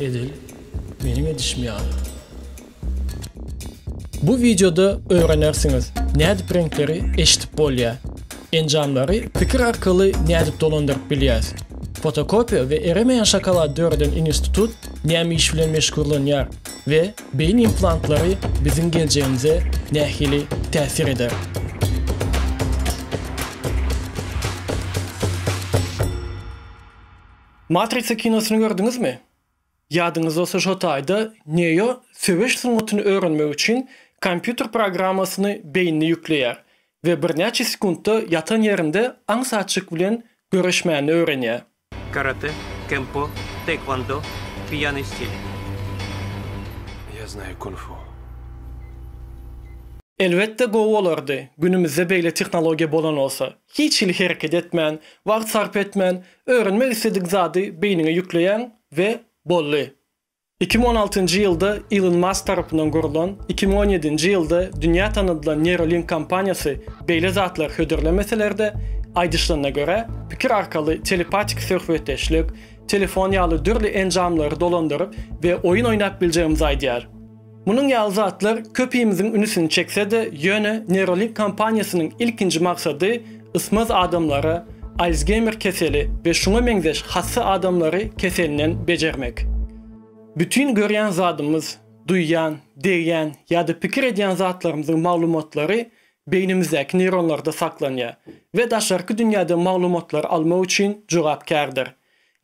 Edil meniň edişim ýaly. Bu wideoda öwrenersiňiz nädip reňkleri eşidip bolýa. Enjamlary pikir arkaly nädip dolandyryp bilýäs. Fotokopiýa we eremeýän şokolad döreden inistutut näme iş bilen meşgurlanýar we beýin implantlary biziň geljegimize nähili täsir eder. Matrisa kinosyny gördüňizmi? Ýadyňyzda bolsa şo taýda Neo söweş sungatyny öwrenmek üçin kompýuter programmasyny beýnine ýükleýär we birnäçe sekuntda ýatan ýerinde aňsatjyk bilen göreşmäni öwrenýär. Karate, kempo, taekwondo, pýýanyý stil. Ýa znaýu kung-fu. Elbetde gowy bolardy günümizde beýle tehnologiýa bolan bolsa. Hiç hili hereket etmän, wagt sarp etmän, öwrenmek isledik zady beýniňe ýükleýäň we boldy. Iki müň on altynjy ýylda Ilon Mask tarapyndan gurlan, iki müň on ýedinji ýylda dünýä tanadylan Neuralink kompaniýasy beýle zatlary hödürlemeseler-de, aýdyşlanyna görä, pikir arkaly telepatiki söhbetdeşlik, telefon ýaly dürli enjamlary dolandyryp we oýun oýnap biljegimizi aýdýar. Munuň ýaly zatlar köpimiziň ünsüni çekse-de, ýöne Neuralink kompaniýasynyň ilkinji maksady ysmaz adamlara, Alsgeýmer keseli we şuňa meňzeş hassa adamlary keselinden bejermek. Bütin görýän zadymyz, duýýan, degýän ýa-da pikir edýän zatlarymyzyň maglumatlary beýnimizdäki neýronlarda saklanýar we daşarky dünýäden maglumatlary almak üçin jogapkärdir.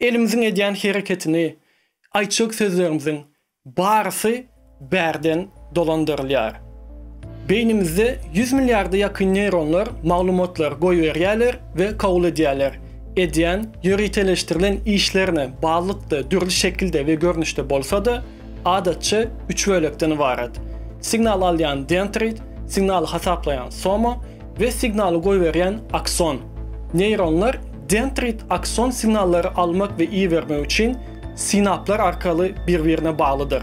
Elimiziň edýän hereketini, aýtjak sözlerimiziň Barysy bärden dolandyrylýar. Beýnimizde ýüz milliarda ýakyn neýronlar maglumatlary goýberýärler we kabul edýärler. Edýän, ýöriteleşdirilen işlerine barlykda dürli şekilde we görnüşde bolsa-da, adatça, üç bölekden ybarat. Signal alýan dendrit, signaly hasaplaýan soma we signaly goýberýän akson. Neýronlar dendrit-akson signallary almak we ibermek üçin, sinaplar arkaly bir-birine baglydyr.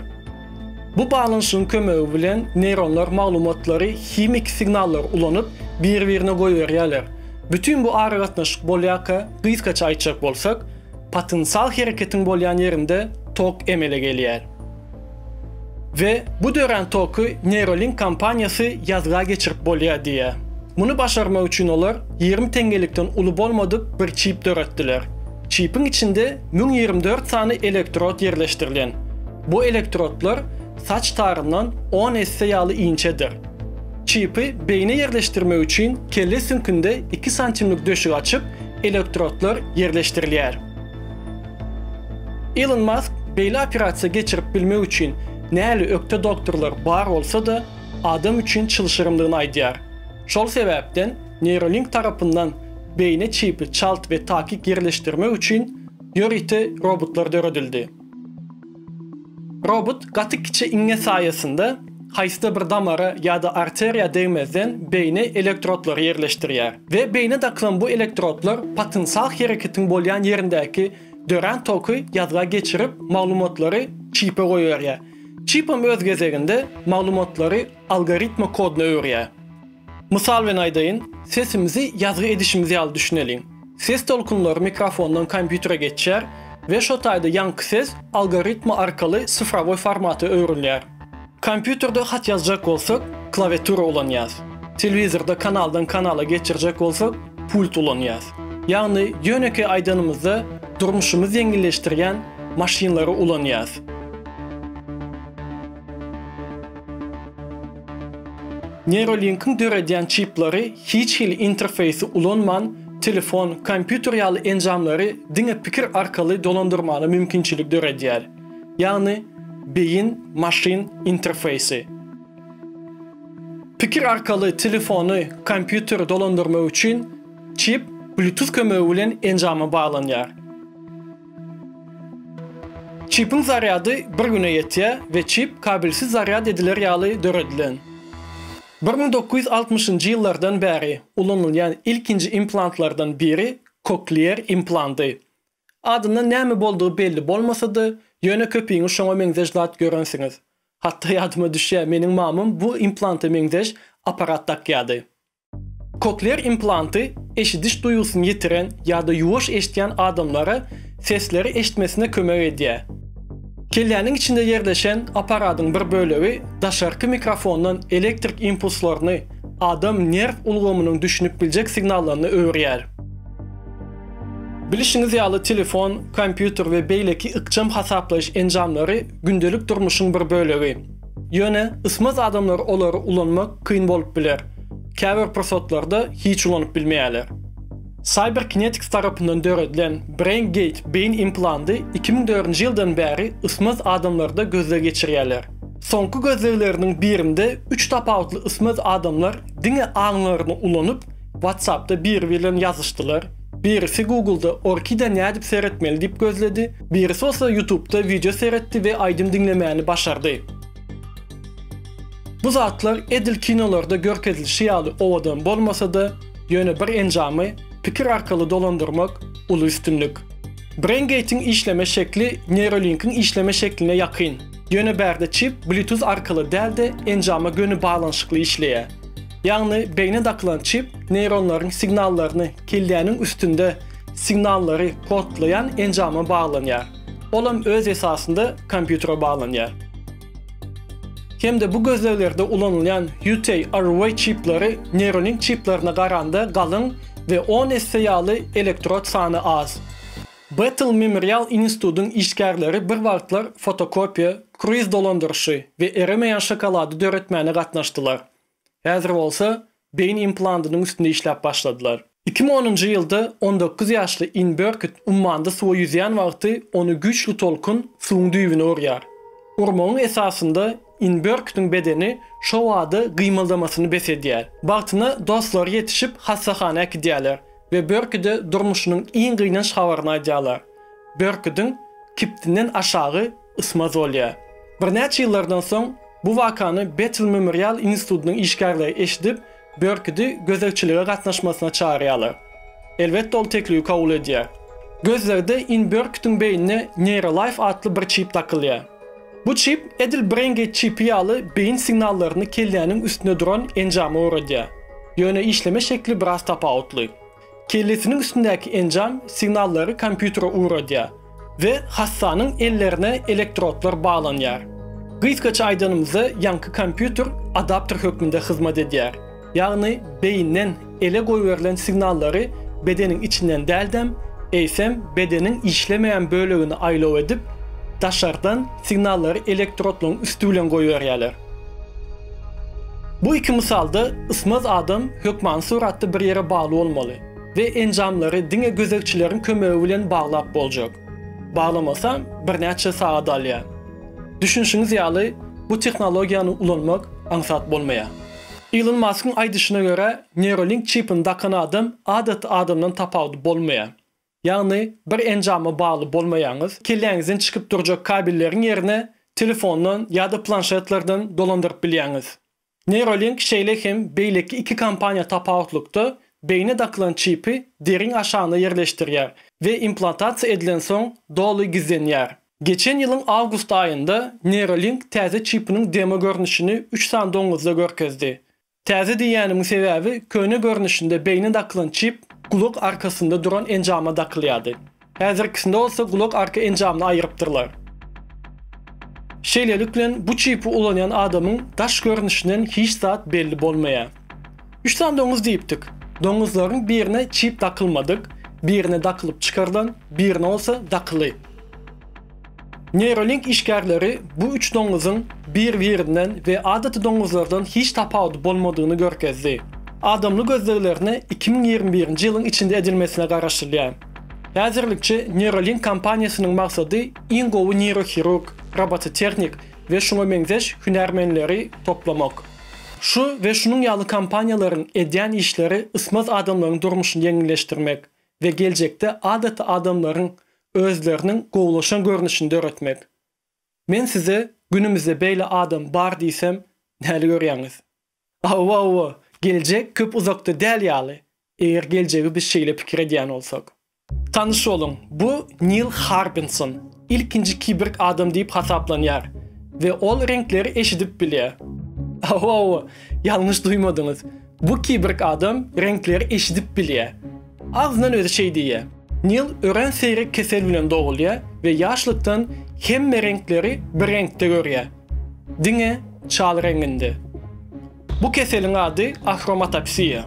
Bu baglanyşygyň kömegi bilen neýronlar maglumatlary himiki signallar ulanyp, bir-birine goýberýärler. Bütin bu aragatnaşyk bolýarka, gysgaça aýtjak bolsak, potensial hereketiň bolýan ýerinde tok emele gelýär. We bu dörän toky Neuralink kompaniýasy ýazga geçirip bolýar diýýär. Muny başarmak üçin olar ýigrimi teňňelikden uly bolmadyk bir çip döretdiler. Çipiň içinde müň ýigrimi dört sany elektrod ýerleşdirilen. Bu elektrodlar saç taryndan on esse ýaly inçedir. Çipi beýne ýerleşdirmek üçin kelle süňkünde iki santimlik döşük açyp, elektrodlar ýerleşdirilýär. Ilon Mask beýle operasiýa geçirip bilmek üçin näli ökde doktorlar bar bolsa-da, adam üçin çylşyrymdygyny aýdýar. Şol sebäpden Neuralink tarapyndan beýne çipi çalt we takyk ýerleşdirmek üçin ýörite robotlar döredildi. Robot gaty kiçi iňňe saýasynda haýsy-da bir damara ýa-da arteriýa degmezden beýne elektrodlary ýerleşdirýär we beýne dakylan bu elektrodlar potensial hereketiň bolýan ýerindäki dörän toky ýazga geçirip maglumatlary çipe goýberýär. Çipem öz gezeginde maglumatlary algoritma koduna öwürýär. Mysal bilen aýdaýyn, sesimizi ýazgy edişimiz ýaly düşüneliň. Ses tolkunlary mikrofondan kompýutere geçýär we şo taýda ýaňky ses algoritma arkaly sifrowoý formata öwrülýär. Kompýuterde hat ýazjak bolsak, klawiatura ulanýas. Telewizorda kanaldan kanala geçirjek bolsak, pult ulanýas. Ýagny ýönekeý aýdanymyzda durmuşymyz ýeňilleşdirýän maşynlary ulanýas. Neuralink-iň döredýän çipleri hiç hili interfeýsi ulanman, telefon, kompýuter ýaly enjamlary diňe pikir arkaly dolandyrmaga mümkinçilik döredýär. Ýagny, beýin, maşyn interfeýsi. Pikir arkaly telefony, kompýuteri dolandyrmak üçin çip Bluetooth kömegi bilen enjama baglanýar. Çipiň zarýady bir güne ýetýär we çip kabelsiz zarýad ediler ýaly döredilen. Bir müň dokuz ýüz altmyşynjy ýyllardan bäri ulanylýan ilkinji implantlardan biri koklear implanty. Adyndan näme boldugy belli bolmasa-da, ýöne köpiňiz şoňa meňzeş zat görensiňiz. Hatda ýadyma düşýär, meniň mamam bu implanta meňzeş apparat dakýardy. Koklear implanty eşidiş duýgusyny ýitiren ýa-da ýuwaş eşidýän adamlara sesleri eşitmesine kömek edýär. Kelläniň içinde ýerleşen apparadyň bir bölegi daşarky mikrofondan elektrik impulslaryny adam nerw ulgamynyň düşünip biljek signallaryna öwürýär. Bilişiňiz ýaly telefon, kompýuter we beýleki ykjam hasaplaýyş enjamlary gündelik durmuşyň bir bölegi. Ýöne ysmaz adamlara olary ulanmak kyn bolup biler, käbir pursatlarda hiç ulanyp bilmeýärler. Cyberkinetics tarapyndan döredilen BrainGate beýin implanty iki müň dördünji ýyldan bäri ysmaz adamlarda gözleg geçirýärler. Soňky gözlegleriniň birinde üç tapawutly ysmaz adamlar diňe aňlaryny ulanyp, WhatsApp-da biri bilen ýazyşdylar. Birisi Google-da Orkide nädip seretmeli diýip gözledi, birisi bolsa YouTube-da wideo seretdi we aýdym diňlemäni başardy. Bu zatlar edil kinolarda görkezilişi ýaly owadan bolmasa-da, ýöne bir enjamy pikir arkaly dolandyrmak uly üstünlik. BrainGate-iň işleme şekli Neuralink-iň işleme şekline ýakyn, ýöne bärde çip Bluetooth arkaly däl-de enjama göni baglanyşykly işleýär. Ýagny beýne dakylan çip neýronlaryň signallaryny keldäniň üstünde signallary kodlaýan enjama baglanýar. Olam öz esasynda kompýutere baglanýar. Hem-de bu gözleglerde ulanylýan UTARW çipleri Neuralink çiplerine garanda galyň we on esse ýaly elektrod sany az. Bettel Memorial Institudyň işgärleri bir wagtlar fotokopiýa, kruiz dolandyryşy we eremeýän şokolady döretmäne gatnaşdylar. Häzir bolsa beýin implantynyň üstünde işläp başladylar. Iki müň onunjy ýylda on dokuz ýaşly Inn Börküt ummanda suwa ýüzýän wagty ony güýçli tolkun suwuň düýbüne urýar. Urmagyň esasynda Inn Börkütiň bedeni şo bada gymyldamasyny bes edýär. Bagtyna dostlary ýetişip hassahana äkidýärler we Börküde durmuşynyň iň gynanç habaryny aýdýarlar. Börküdiň kibtinden aşagy Ysma Zolýa. Birnäçe ýyllardan soň bu wakany Betel Memorial institutynyň işgärleri eşidip, Börkidi gözegçilige gatnaşmasyna çagyrýarlar. Elbetde ol teklibi kabul edýär. Gözlerde In Börkidiň beýnine Neýrolaýf atly bir çip dakylýar. Bu çip edil BrainGate çipi ýaly beýin signallaryny kelläniň üstünde duran enjama ugradýar. Ýöne işleme şekli biraz tapawutly. Kellesiniň üstündäki enjam signallary kompýutere ugradýar we hassanyň ellerine elektrodlar baglanýar. Gysgaça aýdanymyzda ýaňky kompýuter adapter hökmünde hyzmat edýär, ýagny beýinden ele goýberilen signallary bedeniň içinden däldem, eýsem bedeniň işlemeýän bölegini aýlaw edip, daşardan signallary elektrodlaryň üsti bilen goýberýärler. Bu iki mysalda ysmaz adam hökmany suratda bir ýere bagly bolmaly we enjamlary diňe gözegçileriň kömegi bilen baglap boljak. Baglamasam, birnäçe sagat alýar. Düşünişiňiz ýaly, bu tehnologiýany ulanmak aňsat bolmaýar. Ilon Maskyň aýdyşyna görä, Neuralink çipini dakan adam adaty adamdan tapawudy bolmaýar. Ýagny bir enjama bagly bolmaýaňyz, kelläňizden çykyp durjak kabelleriň ýerine telefondan ýa-da planşetlerden dolandyryp bilýäňiz. Neuralink şeýle hem beýleki iki kompaniýa tapawutlykda beýne dakylan çipi deriň aşagyna ýerleşdirýär we implantasiýa edilensoň doly gizlenýär. Geçen ýylyň awgust aýynda Neuralink täze çipiniň demo görnüşini üç sany doňňuzda görkezdi. Täze diýýänimiň sebäbi köne görnüşinde beýnä dakylan çip gulak arkasynda duran enjama dakylýardy. Häzirkisinde bolsa gulak arka enjamyny aýyrypdyrlar. Şeýlelik bilen bu çipi ulanýan adamyň daş görnüşinden hiç zat belli bolmaýar. Üç sany doňuz diýipdik. Doňuzlaryň birine çip dakylmadyk, birine dakylyp çykarylan, birine bolsa dakyly. Neuralink işgärleri bu üç doňňuzyň bir-birinden we adaty doňňuzlardan hiç tapawudy bolmadygyny görkezdi. Adamly gözleglerine iki müň ýigrimi birinji ýylyň içinde edilmesine garaşylýar. Häzirlikçe Neuralink kompaniýasynyň maksady iň gowy neýrohirurg, robototehnik we şuňa meňzeş hünärmenleri toplamak. Şu we şunuň ýaly kompaniýalaryň edýän işleri ysmaz adamlaryň durmuşyny ýeňilleşdirmek we geljekde adaty adamlaryň özleriniň gowulaşan görnüşini döretmek. Men size günümizde beýle adam bar diýsem näli görýäňiz? Hawa, hawa, geljek köp uzakda däl ýaly, eger geljegi biz şeýle pikir edýän bolsak. Tanyş boluň, bu Nil Harbinson, ilkinji kiberg adam diýip hasaplanýar we ol reňkleri eşidip bilýär. Hawa, hawa, ýalňyş duýmadyňyz. Bu kiborg adam reňkleri eşidip bilýär. Agzyndan özi şeý diýýär. Nil örän seýrek kesel bilen dogulýar we ýaşlykdan hemme reňkleri bir reňkde görýär. Diňe çal reňinde. Bu keseliň ady ahromatopsiýa.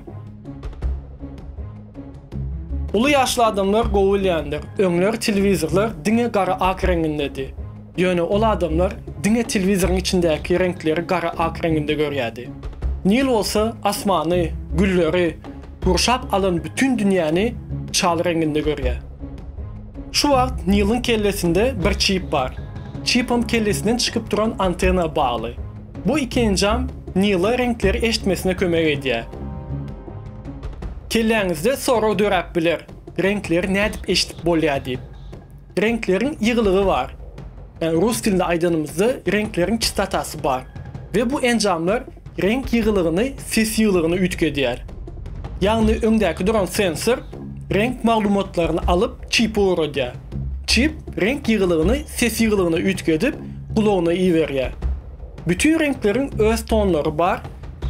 Uly ýaşly adamlar gowy bilýändir, öňler telewizorlar diňe gara-ak reňindedi. Ýöne ol adamlar diňe telewizoryň içindäki reňkleri gara-ak reňinde görýärdi. Nil bolsa asmany, gülleri, gurşap alan bütin dünýäni çal reňinde görýär. Şu wagt Niliň kellesinde bir çip bar. Çipam kellesinden çykyp duran antena bagly. Bu iki enjam Nila reňkleri eşitmesine kömek edýär. Kelläňizde sorag döräp biler, reňkleri nädip eşidip bolýar diýip. Reňkleriň ýygylygy bar. Ýagny rus dilinde aýdanymyzda reňkleriň çystatasy bar we bu enjamlar reňk ýygylygyny, ses ýygylygyny üýtgedýär. Ýagny öňdäki duran sensor reňk maglumatlaryny alyp çipe ugradýar. Çip reňk ýygylygyny ses ýygylygyna üýtgedip gulagyna iberýär. Bütin reňkleriň öz tonlary bar,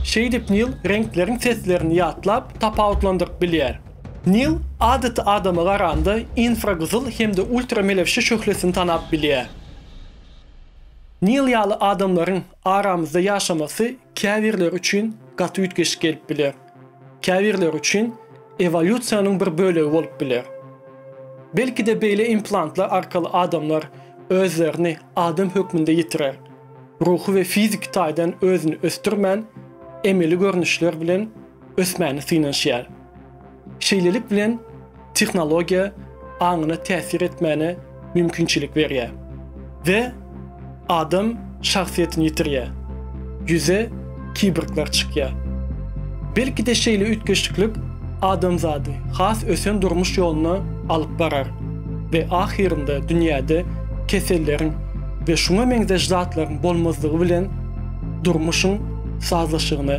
şeýdip Nil reňkleriň seslerini ýatlap tapawutlandyryp bilýär. Nil adaty adama garanda infragyzyl hem-de ultramelewşe şöhlesini tanap bilýär. Nil ýaly adamlaryň aramyzda ýaşamasy käbirleri üçin gaty üýtgeşik gelip biler. Käbirleri üçin ewolýusiýanyň bir bölegi bolup biler. Belki-de beýle implantlar arkaly adamlar özlerini adam hökmünde ýitirer, ruhy we fiziki taýdan özüni ösdürmän, emeli görnüşler bilen ösmäne synanyşýar. Şeýlelik bilen tehnologiýa aňyna täsir etmäne mümkinçilik berýär we adam şahsyýetini ýitirýär, ýüze kibrglar çykýar. Belki-de şeýle üýtgeşiklik adamzady has ösen durmuş ýoluna alyp barar we ahyrynda dünýäde keselleriň we şuňa meňzeş zatlaryň bolmazlygy bilen durmuşyň sazlaşygyna